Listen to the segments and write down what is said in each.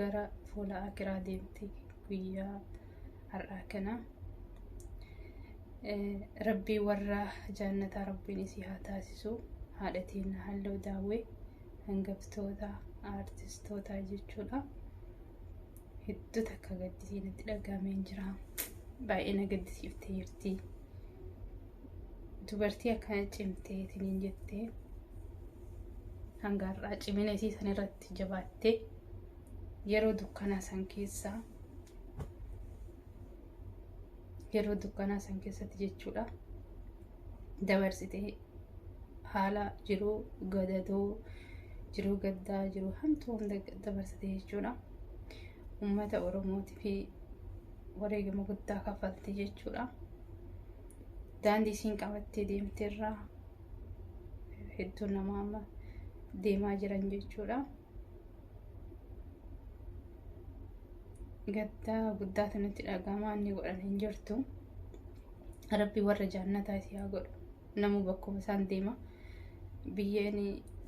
gara fuula akiraa deemti guyyaa har'aa kana rabbii warra jaannataa rabbiin isii haa taasisu haadha teenna halloo daawwee hangaftoota aartistootaa jechuudha hedduu takka gaddisii natti dhagaameen jira baay'ee na gaddisiiftee jirti dubartii akkana cimtee tiniin jettee hanga har'aa cimina isii san irratti itti jabaattee yeroo dukkanaa san keessaa yeroo dukkanaa san keessatti jechuudha dabarsitee haala jiruu gadadoo jiruu gaddaa jiruu hamtuu hunda dabarsitee jechuudha ummata oromootii fi wareegama guddaa kaffaltee jechuudha daandii isiin qabattee deemteerraa hedduu nama amma deemaa jiran jechuudha. Gaddaa guddaatu nutti dhaga'ama inni godhan hin jirtu. Rabbi warra jaannataa isii haa godhu. Namuu bakkuma isaan deema. Biyyeen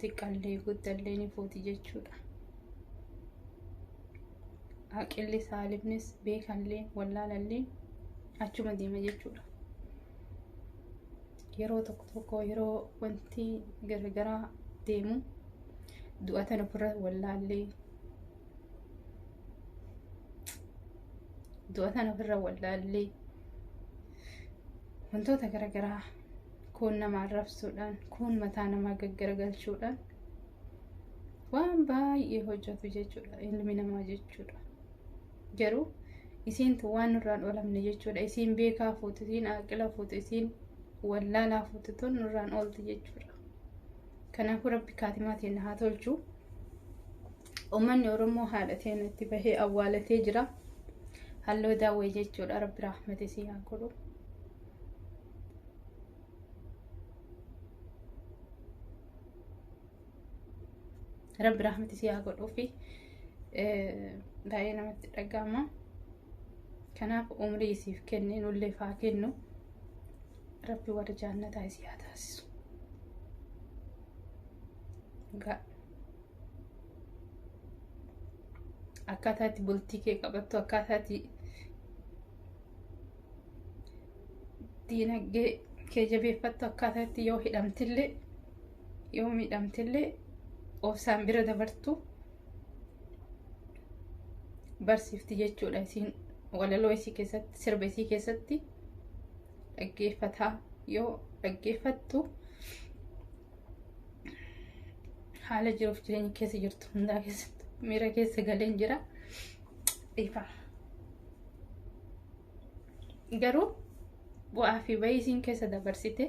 xiqqallee guddallee ni fuuti jechuudha. Haqilli saalifnis beekallee wallaalallee achuma deema jechuudha. yeroo tokko tokko yeroo wanti garagaraa deemu du'atan ofirra wallaallee du'atan ofirra wallaallee wantoota garagaraa kuun nama arrabsuudhaan kuun mataa namaa gaggaragalchuudhaan waan baay'ee hojjetu jechuudha ilmi namaa jechuudha. Garuu isiintu waan nurraan oolamne jechuudha. Isiin beekaa fuutu, isiin aaqila fuutu, isiin wallaalaa fuutu tun nurraan oolti jechuudha. Kanaafuu rabbi kaatimaa teenna haa tolchu. Uummanni Oromoo haadha teenna itti bahee awwaalatee jira. Halloo daawwee jechuudha rabbi raahmata isii haa godhu. rabbi rahmati si haa godhuufi baay'ee namatti dhaga'ama kanaaf umrii isiif kennee nulleef haa kennu rabbi warra jaannataa isii haa taasisu Egaa akkaataa itti bultii kee qabattu akkaataa itti diinagdee kee jabeeffattu akkaataa itti yoo hidhamtillee yoo miidhamtillee obsaan bira dabartu barsiifti jechuudha isiin walaloo isii keessatti sirba isii keessatti dhaggeeffataa yoo dhaggeeffattu haala jiruuf jireenya keessa jirtu hundaa keessatti miira keessa galeen jira dhiifama. garuu bu'aa fi bayii isiin keessa dabarsite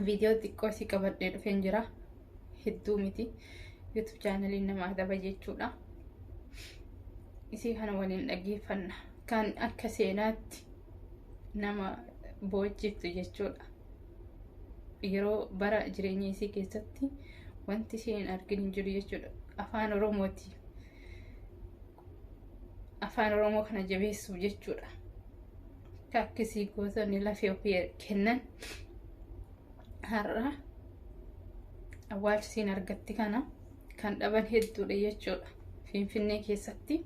viidiyoo xiqqoo isii qabadhee dhufeen jira hedduu miti yuutuub chaanaliin nama adaba jechuudha isii kana waliin dhaggeeffanna kan akka seenaatti nama boochiftu jechuudha yeroo bara jireenya isii keessatti wanti isheen hin argin hin jiru jechuudha afaan oromooti afaan oromoo kana jabeessuuf jechuudha akka akkasii gootonni lafee ofii kennan har'a awwaalchisiin argatti kana kan dhaban hedduudha jechuudha finfinnee keessatti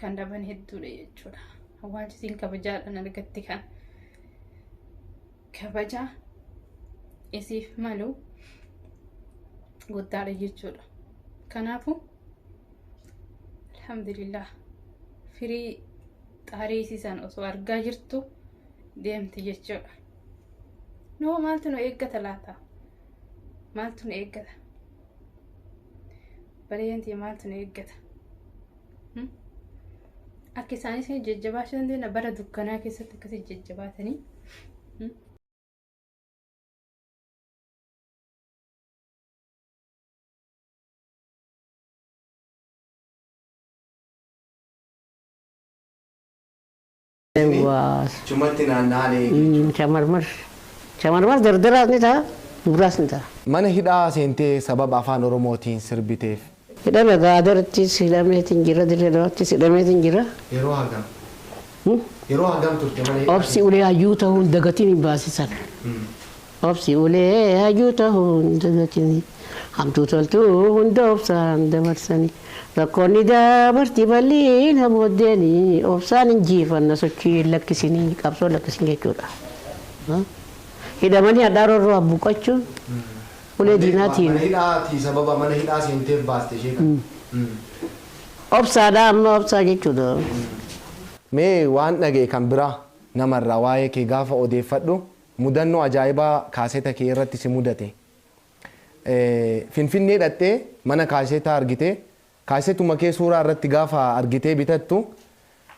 kan dhaban hedduudha jechuudha awwaalchisiin kabajaadhaan argatti kana kabaja isiif malu guddaadha jechuudha kanaafuu alhamdulillah firii xaarii isii san osoo argaa jirtu deemti jechuudha noo maaltu nu eeggata laata maaltu nu eeggata bareenti maaltu nu eeggata Hmm? akka isaanis jajjabaachuu dandeenya bara dukkanaa keessatti akkasii jajjabaatanii Hmm? Waa. Chumatti naanna'aan eegi jechuudha. Chamarmar. Chamarmar dardaraas ni ta'a, dubraas ni ta'a. Mana hidhaa seentee sababa Afaan Oromootiin sirbiteef. Hidhame gaa Adarittis hidhameetiin jira, Dirree Dawaattis hidhameetiin jira. Yeroo hagam? Yeroo hagam turte mana hidhaa Obsi keessa? ulee hayyuu ta'uun dagatiin hin baasisan. Obsi ulee hayyuu tahuu hin dagatini Hamtuu toltuu hunda obsaan dabarsani Rakkoon ni dabarti bal'ina booddeeni Obsaan injiifanna sochii hin lakkisini Qabsoo hin lakkisin jechuudha Hidhamanii hadhaa rorroo abbuqqachuun Ulee diinaatiin Mana hidhaa ti sababa mana hidhaa seenteef baaste ishee kana. Obsaadha amma obsaa jechuudha. Mee waan dhaga'e kan biraa nama irraa waa'ee kee gaafa odeeffadhu Mudannoo ajaa'ibaa kaaseeta kee irratti si mudate. Finfinnee dhaqxee mana kaaseetaa argite. Kaaseetuma kee suuraa irratti gaafa argitee bitattu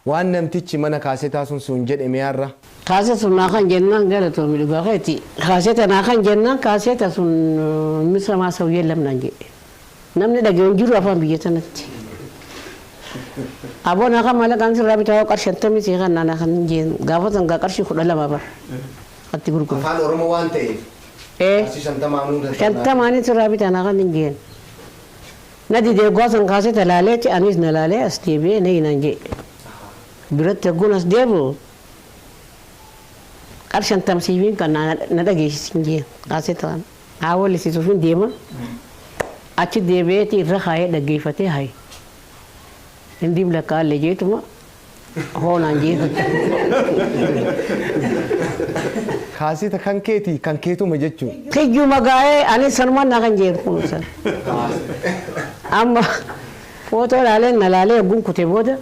waan namtichi mana kaaseetaa sun siun jedhe mee har'a. Kaaseeta naa kan jennaan galatoomi dhugaa keeti. Kaaseeta naa kan jennaan kaaseeta sun misamaa saw yellam naan jedhe. Namni dhagayu hin jiru afaan biyya tanatti. Aboo naa kan maalaqaan sirraa bitaa hoo qarshii shantamii sii kan naanaa kan hin jeen gaafa san gaa qarshii kudha lama bar atti gurguru. Afaan Oromoo waan ta'eef Ee qarshii shantamaa nuu danda'a. shantamaanin sirraa bitaa naa kan hin jeen. Na didee oggaa san kaasee talaaleeti anis na laalee as deebi'ee na hinaan jee. Biratti hogguun as deebi'u qarshii shantama siifin kan na dhageessisi hin jeen kaasee ta'an. Haa walisisuufin deema achi deebi'eeti irra kaayee dhaggeeffatee hay hindiim lakkaa illee jeetuma hoo naan jeetu. Kaaseta kan keeti kan keetuma jechu. Tijjuma gaa'ee anis sanuman na kan jeetu kun san. Amma footoo laalee na laalee oggun kute booda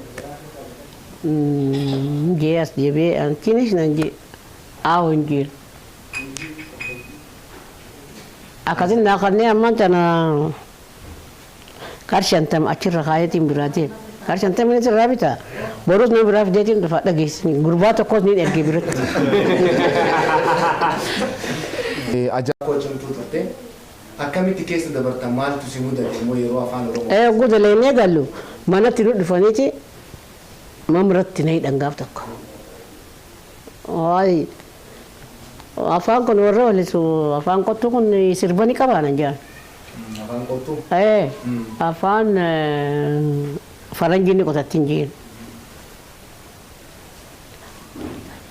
jee as deebi'ee an tinish nan jee aawo hin jeetu. Akkasin naa kannee ammaan tana qar shantam achirra kaayeetiin biraa deeme. Qar shantaminis irraa bita. Borus nama biraa fideetiin dhufa dhageessisni. Gurbaa tokkos niin erge biratti. Ajaa koo cimtuu turte. Akkamitti keessa dabarta maaltu si mudate immoo yeroo afaan oromoo. Ee oguu dalaynee gallu manatti nu dhufaniiti mamratti na hidhan gaaf tokko. Waay Afaan kun warra walisu afaan qottuu kun sirba ni qabaa nan jedhan. Afaan qottuu? Ee afaan faranjii ni qotatti hin jeen.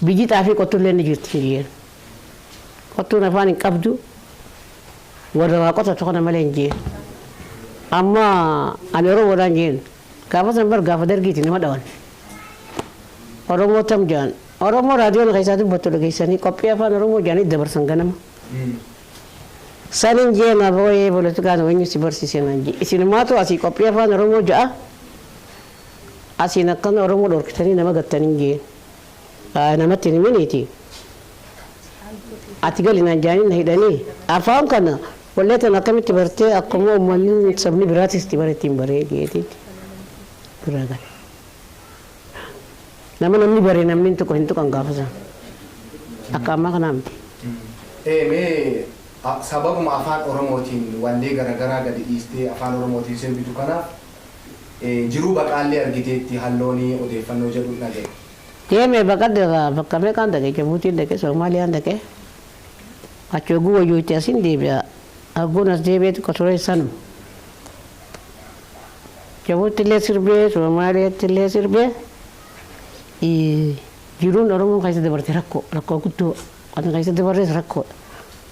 Biyyi xaafii qottullee ni jirti hin jeen. Qottuun afaan hin qabdu warra waa qotatu kana malee hin jeen. Amma ani Oromoodhaan jeen. Gaafa san bar gaafa dargiiti nama dhawan. Oromoo tam ja'an. Oromoo raadiyoon keessaa dubbattu dhageessanii qophii afaan Oromoo ja'anii dabarsan ganama. Sanin jee naaf ooyee politikaan weenyu si barsiise naan jee. Isinumaatu asii qophii afaan Oromoo ja'a asiin akkana Oromoo dhorkitanii nama gattaniin jeen. namatti hin himiniiti ati gali naan jaanii na hidhanii afaan kana wallee tana akkamitti bartee akkuma ummanni sabni biraatis itti bare ittiin baree jeetiin biraa gale. Nama namni bare namni hin tuqu hin tuqan gaafa sana. Akka ammaa kanaa miti. Ee mee a- sababuma afaan oromootiin wallee garaagaraa gadi dhiistee afaan oromootiin sirbitu kana Jiruu baqaallee argiteetti hallooni odeeffannoo jedhun dhagahe. Deeme baqadhe irraa bakka meeqaan dhaqe Jabuutiin dhaqe Soomaaliyaan dhaqe achi hogguu wayyuu itti asin deebi'a hogguun as deebi'ee xiqqo ture sanuma. Jabuuttillee sirbee Soomaaliyaattillee sirbee jiruun Oromoon keessa dabarte rakkoo rakkoo guddoo kan keessa dabarres rakkoodha.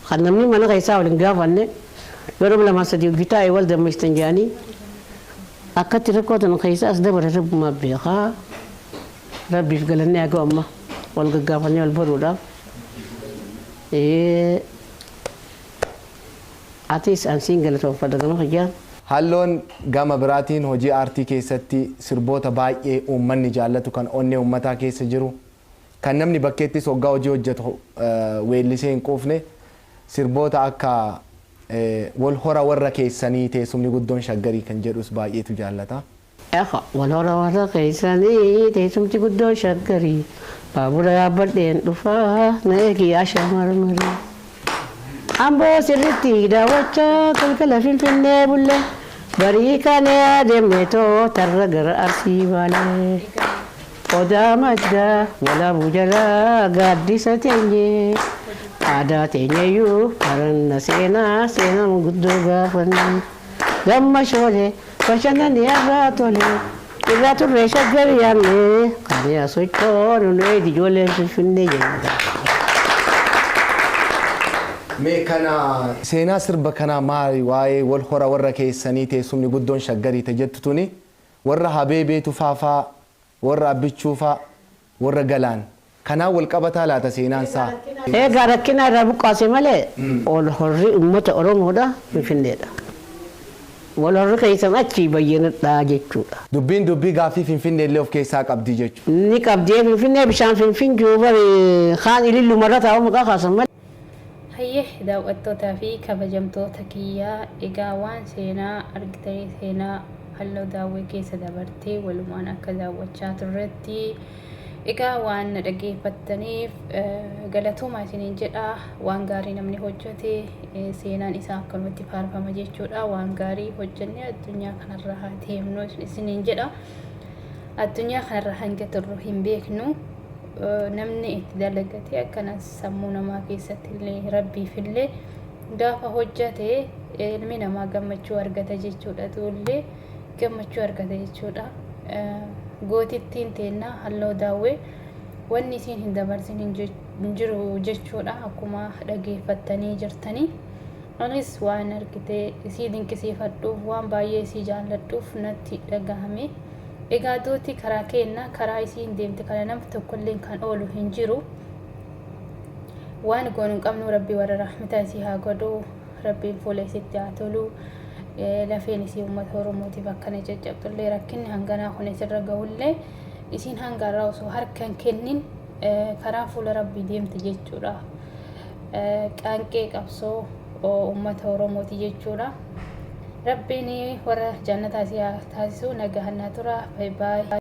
Kan namni mana keessaa wal hin gaafanne yoo nama lamaa sadii wajji taa'e wal dammeessitan jedhanii akkatti rakkoo tana keessa as dabare rabbumaa beeka. Rabbiif galanni haa ga'u amma wal gaggaafannee wal baruudhaaf. Ee, Atis an siin galatoomfadha gama kiyyaan. Halloon gama biraatiin hojii aartii keessatti sirboota baay'ee uummanni jaallatu kan onnee uummataa keessa jiru Kan namni bakkeettis hoggaa hojii hojjetu weellisee hin quufne sirboota akka Wal hora warra keessanii teessumni guddoon Shaggarii kan jedhus baay'eetu jaallata. Efa, Wal hora warra keessanii teessumti guddoon Shaggarii Baabura yaabbadheen dhufa na eegi yaa shamarmarii Amboo sirriitti daawwachaa galgala Finfinnee bulle Barii kaanee adeemneetoo tarra gara Arsii baale. Odaa Maddaa Walaabuu jala gaaddisa teenye Aadaa teenyayyuu baranna seenaa seenaa manguddoo gaafanna Damma Shoolee bashannanne arraa tole Irraa turree Shaggar yaanne kaanee haa sochoonu Nu eegdi ijoolleen Finfinnee jenna. Mee kana seenaa sirba kanaa maali waa'ee wal hora warra keessanii teessumni guddoon shaggarii ta jettu tuni Warra Habeebee Tufaa faa? Warra Abbichuu faa? Warra Galaan? Kanaan wal qabataa laata seenaan saa? Eegaa rakkinaa irraa buqqaase malee wal horri ummata Oromoodha Finfinneedha. Wal horri keessan achii bayyanadha jechuudha. Dubbiin dubbii gaaffii Finfinnee illee of keessaa qabdi jechuudha. Ni qabdi ee Finfinnee bishaan Finfinjuu bari kaan Ililluma irra taa'uu maqaa kaasan malee. Hayyee daaw'attootaa fi kabajamtoota kiyya egaa waan seenaa argitanii seenaa halloo daawwee keessa dabartee walumaan akka daawwachaa turretti egaa waan na dhageeffattaniif galatoomaa isiniin jedha waan gaarii namni hojjete seenaan isaa akkanumatti faarfama jechuudha waan gaarii hojjennee addunyaa kanarra haa deemnu isiniin jedha addunyaa kanarra hanga turru hin beeknu. namni itti dalagatee akkanas sammuu namaa keessatti illee rabbiif illee gaafa hojjate ilmi namaa gammachuu argata jechuudha tuullee gammachuu argata jechuudha gootittiin teennaa halloo daawwee wanni isiin hin dabarsin hin jiru jechuudha akkuma dhageeffattanii jirtanii anis waan argitee isii dinqisiifadhuuf waan baay'ee isii jaalladhuuf natti dhagahame. Egaa duuti karaa keenna, karaa isiin deemte kana namni tokkolleen kan oolu hin jiru. Waan goonu hin qabnu rabbi warra rahmata isii haa godhu, rabbiin fuula isitti haa tolu. Lafeen isii uummata Oromootiif akkana caccabxullee rakkinni hanganaa kun isirra gahullee isiin hanga irraa osoo harka hin kennin karaa fuula rabbii deemte jechuudha. Qaanqee qabsoo uummata Oromooti jechuudha. Rabbiin warra jannataa si haa taasisu. Nagahan naa tura. Bye bye.